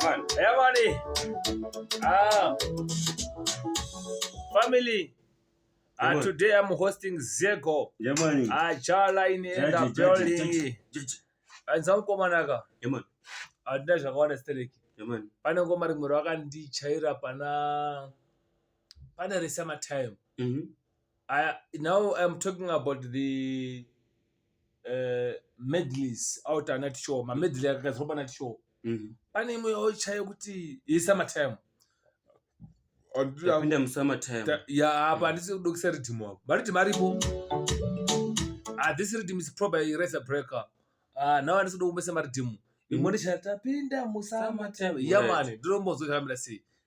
Jamani, jamani. Ah. Family. Uh, today I'm hosting Zego. Jamani. Ah, Chala in the building. And some komanaka. Jamani. Adina zvakawana stereki. Jamani. Pane ngoma rimwe rwakandichaira pana pana Resa Matime. Mhm. Mm I, now I'm talking about the uh, medleys out ana tishow mamedley akagadzirwa pana tishow Mhm. pane imwe yauchayo kuti yesamatime Tapinda musummer time. ya apa handisi kudokisa ridhimu apo maridhimu aripo ah, this rhythm is probably razor breaker ah, now handisi kuda kumbesa maridhimu imwe ndichaya tapinda musamatime Summertime, ya right. mani ndinombozotambira sei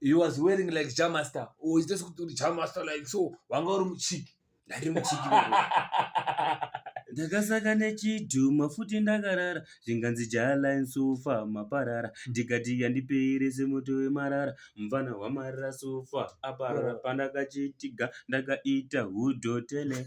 he was wearing like jamaster or just kuti uri jamaster like so wanga uri muchiki ndari muchiki ndakasaka nechidhuma futi ndakarara zvinganzi jaline sofa maparara ndikati yandipeire semoto wemarara mvana wamarara sofa aparara pandakachitiga ndakaita hudhotele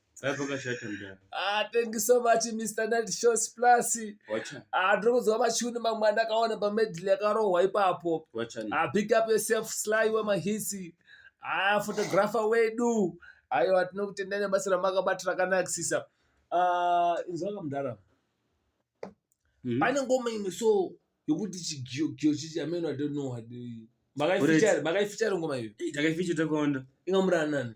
Dai pakashata mdara. Ah, thank you so much Mr. Night Shows Plus. Wacha. Ah, ndiri kunzwa machuni mamwe andakaona pamedley yakarohwa ipapo. Wacha. Ah, big up yourself Sly wemahitsi. Ah, photographer wedu. Aiwa tinokutendai nebasa ramakabata rakanakisisa. Ah, inzwa kamdara. Mm -hmm. Pane ngoma imwe so yokuti chigiyo giyo chichi ameno I don't know what. Makaifichara, makaifichara ngoma iyo. Takaifichara takonda. Ingamurana nani?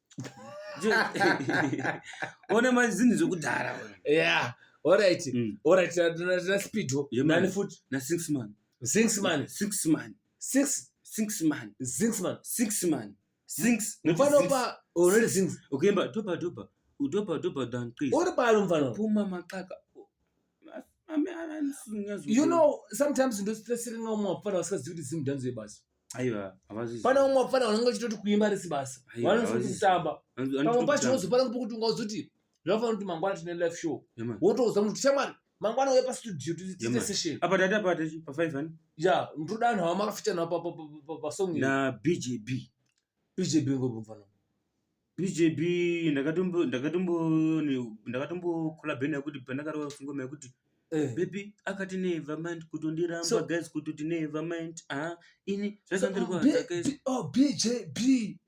one mazinhu zvekudhara ya orit mm. orit na speedo nani futi na six man six man six man six six man six man six man six mufanopa already six ukuyemba doba doba udoba doba dan chris uri pano mfano puma maqaka you know sometimes ndositresere ngamwe mafana vasingazivi kuti zimdanzo yebasa pane vamwe vapfana vanenge vachitoti kuimba risi basa vanoti kutamba pamwe pacho wozopana pokuti ungazoti zvinofanira kuti mangwana tine life show wotouza munhu kuti shamwari mangwana uye pastudio tiite session apa tati apa tati pa five ani ya ndoda anhu awa makafitana pa pa pa pa song na bjb bjb ngobvana BJB ndakatombo ndakatombo ndakatombo collab naye kuti pandakarova singoma yekuti eh. baby akati never mind kutondiramba so, guys kutoti never mind ah ini zvakandirwadza so, guys oh BJB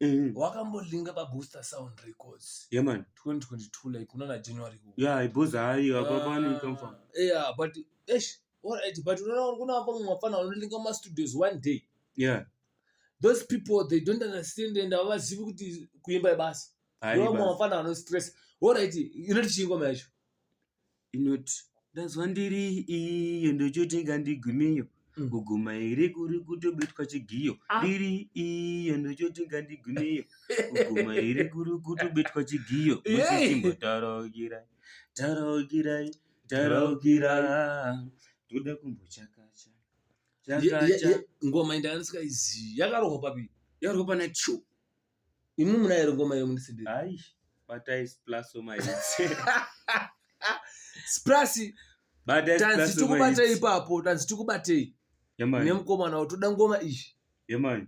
mm. wakambolinga pa Booster Sound Records yeah man 2022 like unaona January huu yeah i boss hayi apa ah, pani come from yeah but eish all right but unaona kuna hapo mafana unolinga ma studios one day yeah those people they don't understand and havazivi kuti kuimba ibasa vamwe vafana vanostress orit inoti chii ngoma yacho inoti ndazwa ndiri iyo ndochoti ngandigumiyo mm. kuguma here kuri kutobetwa chigiyo ah. ndiri iyo ndochoti ngandigumiyo kuguma here kuri kutobetwa chigiyo musitimbo taraukirai taraukirai taraukirai toda kumbochakacha ngoma inda yanisika izi yakarohwa papi yakarohwa pana cho imi muna ere ngoma iyo mundisindira hayi batai splaso maitse splasi tanzi tikubatei ipapo tanzi tikubatei nemukomana wo toda ngoma iyi yemani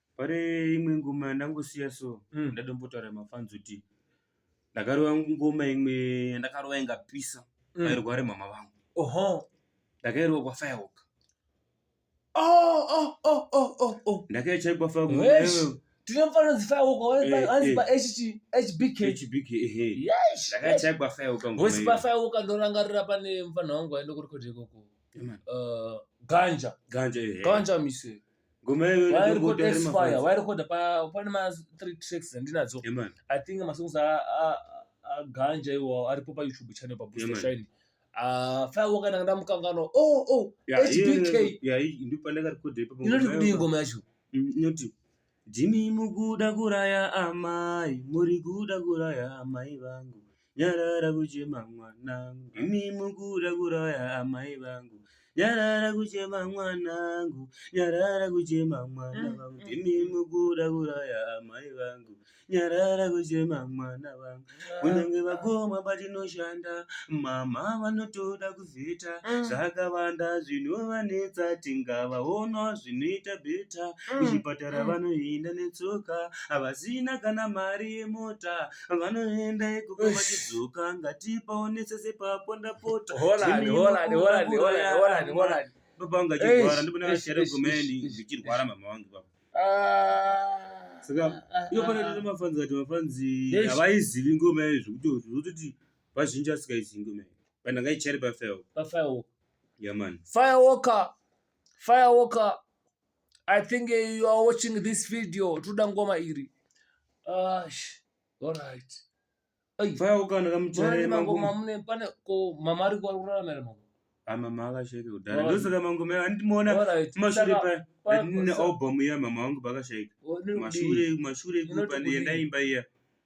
Pane imwe ngoma yandangosiya so Mm. ndadombotaura mafans kuti ndakarova ngoma imwe yandakarova ingapisa Mm. vairware mama vangu Oho. ndakairwa kwafirework Oh, oh, oh, oh, oh, oh. ndakaichai kwafirework Wesh. Tine mfana dzifayoko Eh, eh. wanzi pa HT HBK. hbk ehe Yes. ndakaichai kwafirework ngoma Voice iyo. pafayoko ndorangarira pane mfana wangu aenda kurekodha ikoko. Ema, Uh, ganja. ganja ehe Ganja mise. ngoma yayo iri Wairi kungoti ari kuexpire, mafans. wairi kuda pa- pane ma three tracks dzandinadzo. Yeah, man. I think masongs a- a- a- aganja iwawo aripo paYouTube channel pa Booster Yeah, man. Shine. Ah, Firewalk ndanga ndamukanganwa. Oh, oh, Yeah, HBK. iyo- yeah, iyi ndipo pandakarekodha ipapo inoti ngoma kudii yayo. ngoma yacho? Mm, inoti jimi mukuda kuraya amai muri kuda kuraya amai vangu Nyarara kuchema mwana, imi mukuda kuraya amai vangu. Nyarara kuchema mwanangu, nyarara kuchema mwana mm, vangu, mm. imi mukuda kuraya amai vangu. Nyarara kuchema mwana vangu, kunyange vakoma patinoshanda, mama vanotoda kuzita mm. zvakawanda zvinovanetsa, tingavaona zvinoita beta. Kuchipatara vanoenda netsoka, havasina kana mari yemota. vanoenda ikoko vachidzoka ngatipaonesese pako ndapota baba vangu achirwara ndipona vashere gomeni zvichirwara mama vangu baba ah. saka ah, ah, iyo pane tine mafanzi kati mafanzi havaizivi ngoma iyo zvekuti zvototi vazhinji vasikaizivi ngoma iyo but ndangaichari pafirewalk pafirewalk yamani firewalker firewalker I think uh, you are watching this video toda ngoma iri ash alright mama akashaika kudhara ndosaka mangoma andimoona kumashure paine album iya mama wangu pakashaika mashure mashure kuno pane yandaimba iya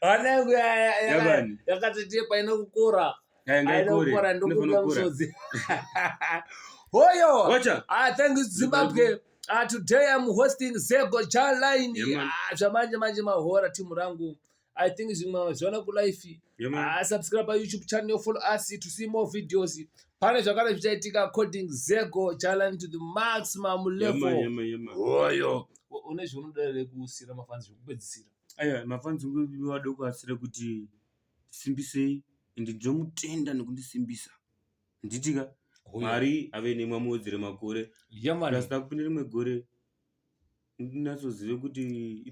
hana yangu yakatotepa inokukora inokukora ndokuda musodzi hoyo ah, thank you zimbabwe Uh, today I'm hosting Zego Chaline. Yeah, ah, zvamanje manje mahora timu rangu I think zvimwe zvaona kulife yeah, subscribe payoutube channel follow us to see more videos pane zvakare zvichaitika according zego challenge to the maximum level oyo yeah, yeah, yeah, yeah. une zvaunoda here kusiyira mafanzi zvekupedzisira aya mafanzi wada kuasira kuti simbisei and ndomutenda nekundisimbisa nditika mwari ave nemwe amuwedzere makore yeah, plus takupinda rimwe gore ndinatsozive kuti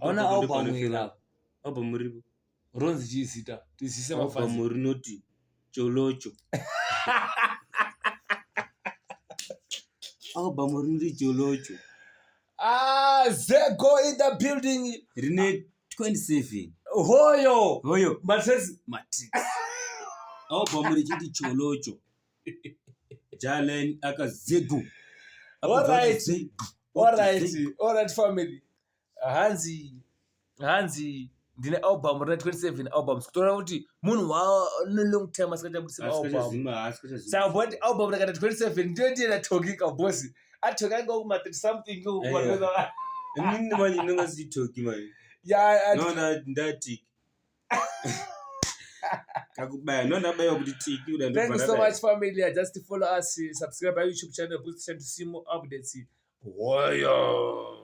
ona album iri apa album ripo ronzi chii zita tizise album rinoti cholocho album rinoti cholocho ah zego in the building rine 27 hoyo hoyo matrix matrix album richiti cholocho jalen akazegu orit family hanzi hanzi ndine album rina 27 albums kutoona kuti munhu waanelong time asikaita kutisa album saka ti album rakata 27 ndiyo ndiye natokika bosi atoki ainge kuma 30 something inini manje ndingasitoki manje ndati kakubaya no ndabaiwa kuti tiki kuda thank you so much family i just follow us subscribe our youtube channel boost channel to see more updates woyo